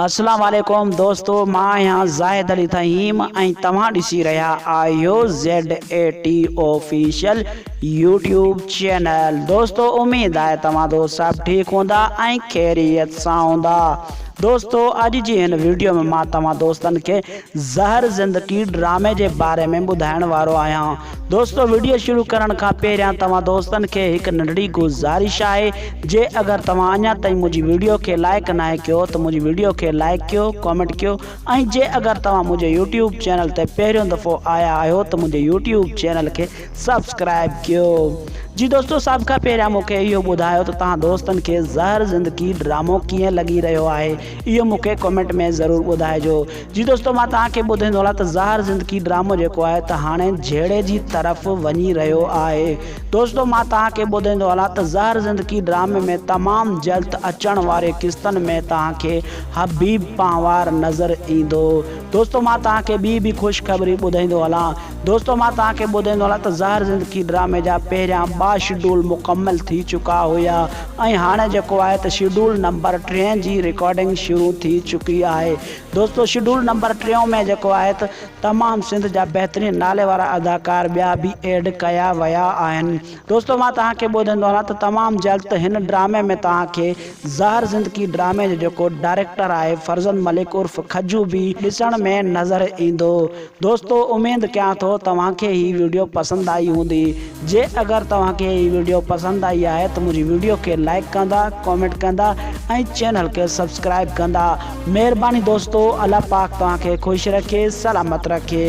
اسلام عليڪم دوستو مان آهيان زاهد علي ٿهيم ۽ توهان ڏسي رهيا آهيو ZATO Official يوٽيوب چينل دوستو اميد آهي توهان دو سڀ ٺيڪ هوندا ۽ خيريت سان هوندا دوستو اڄ جي هن ويڊيو ۾ مان توهان دوستن کي زهر زندڪي ڊرامي جي باري ۾ ٻڌائڻ وارو آهيان دوستو وڊيو شروع ڪرڻ کان پهريان توهان دوستن کي هڪ ننڍڙي گذارش آهي جي اگر توهان اڃا تائين منهنجي وڊيو کي لائيڪ ناهي ڪيو ته منهنجي وڊيو کي لائيڪ ڪيو ڪامينٽ ڪيو ۽ جي اگر توهان منهنجي يوٽيوب چينل تي پهريون دفعو آيا آهيو ته منهنجي يوٽيوب چينل کي سبسڪرائيب ڪيو جي دوستو سڀ کان پهريان مونکي اهو ٻڌايو ته توهان دوستن کي زهر زندگي ڊرامو ڪيئن لڳي رهيو آهي اهو مون کي ڪمينٽ ۾ ضرور ٻڌائجو. جي دوستو مان توهان کي ٻڌين ٿو هلان ته زهر زندگي ڊرامو جيڪو آهي ته هاڻي جهيڙي جي طرف وڃي رهيو آهي دوستو مان توهان کي ٻڌين ٿو هلان ته زهر زندگي ڊرامي ۾ تمام جلد اچڻ واري قسطن ۾ توهان کي حبيب پنهوار نظر ايندو دوستو مان توهان کي ٻي به خوشخبري ٻڌائيندو هلان دوستو مان توهان کي ٻڌين ٿو هلان ته زهر زندگي ڊرامي جا پهريان ٻه شيڊول مڪمل ٿي چڪا هيا ۽ هاڻي جيڪو آهي ته شيڊول نمبر ٽيهه جي رڪارڊنگ شروع ٿي چڪي آهي دوستو شيڊول نمبر ٽيهه ۾ جيڪو آهي ته تمام سنڌ جا بهترين نالي وارا اداڪار ٻيا به ايڊ ڪيا ويا آهن دوستو مان توهان کي ٻوڌائيندو هلان ته تمام جلد هن ڊرامي ۾ توهان کي زهر زندگي ڊرامي جو جيڪو ڊائريڪٽر آهي فرزند ملڪ عرف کجو به ڏسڻ ۾ نظر ايندو دوستو اميد ڪيان ٿو توهان کي هي ويڊيو پسند آئي هوندي جي اگر توهان کي هي ويڊيو پسند آئي آهي ته منهنجي ويڊيو کي لائڪ ڪندا ڪامينٽ ڪندا ۽ چينل کي سبسڪرائب ڪندا مهرباني دوستو الله پاڪ توهان کي خوش رکي سلامت رکي.